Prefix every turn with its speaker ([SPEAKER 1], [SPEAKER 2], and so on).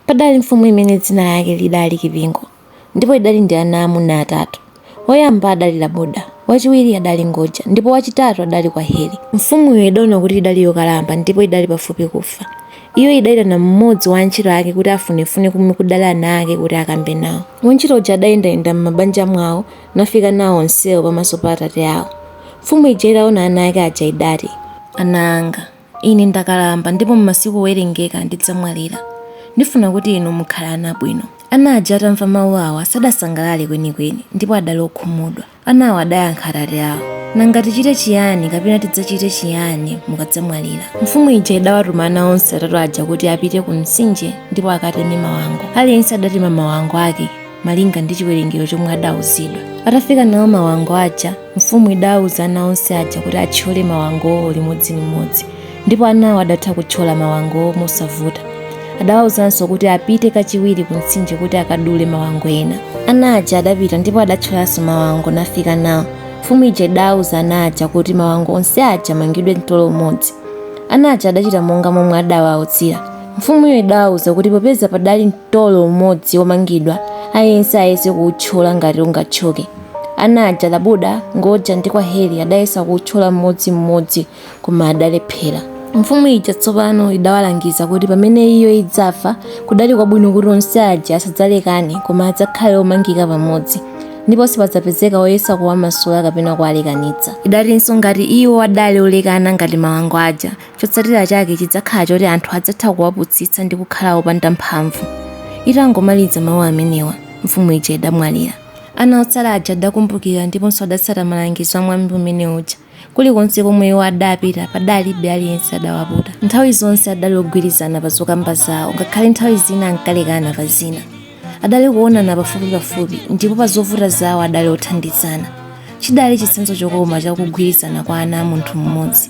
[SPEAKER 1] Padali mfumu imene dzina lake lidali Kipingo ndipo idali ndi ana aamuna atatu. Woyamba adali Laboda, wachiwiri adali Ngoja ndipo wachitatu adali Kwaheri. Mfumuyo idaona kuti idali yokalamba ndipo idali pafupi kufa. Iyo idaitana mmodzi wa antchito ake kuti afunefune komwe kudali ana ake kuti akambe nawo. Wantchito uja adayendayenda m'mabanja mwawo nafika nawo onsewo pamaso pa atate awo. Mfumu ija itaona ana ake aja idati. Ana anga. Ine ndakalamba ndipo m'masiku owerengeka ndidzamwalira. Ndifuna kuti inu mukhale ana abwino. Ana aja atamva mawu awa, sadasangalale kwenikweni, ndipo adali okhumudwa. Anawo adayankha atate awo, Nanga tichite chiyani kapena tidzachite chiyani mukadzamwalira? Mfumu ija idawatuma ana onse atatu aja kuti apite ku mtsinje ndipo akateme mawango. Aliyense adatema mawango ake. malinga ndi chiwerengero chomwe adauzidwa atafika nawo mawango aja mfumu idauza ana onse aja kuti athyole mawangowo limodzilimodzi ndipo anawo adatha kuthyola mawangowo mosavuta adawauzanso kuti apite kachiwiri ku mtsinje kuti akadule mawango ena ana aja adapita ndipo adathyolanso mawango nafika nawo mfumu ija idauza ana aja kuti mawango onse aja amangidwe mtolo umodzi ana aja adachita monga momwe adawauzira mfumuyo idawauza kuti popeza padali mtolo umodzi womangidwa aliyense ayese kuwuthyola ngati ungathyoke ana aja laboda ngoja ndi kwaheri adayesa kuwuthyola mmodzimmodzi koma adalephera mfumu ija tsopano idawalangiza kuti pamene iyo idzafa kudali kwabwino kuti onse aja asadzalekane koma adzakhale omangika pamodzi ndipo sipadzapezeka woyesa kuwamasula kapena kuwalekanitsa idatinso ngati iwo adali olekana ngati mawango aja Chotsatira chake chidzakhala choti anthu adzatha kuwaputsitsa ndi kukhala opanda mphamvu. Itangomaliza mawu amenewa, mfumu ija idamwalira. Ana otsala aja adakumbukira ndiponso adatsata malangizo a mwambi umene uja. Kulikonse komwe iwo adapita, padalibe aliyense adawaputa. Nthawi zonse adali ogwirizana pa zokamba zao, ngakhale nthawi zina ankalekana pa zina. Adali kuwonana pafupipafupi, ndipo pa zovuta zao adali othandizana. Chidali chitsanzo chokoma cha kugwirizana kwa ana a munthu mmodzi.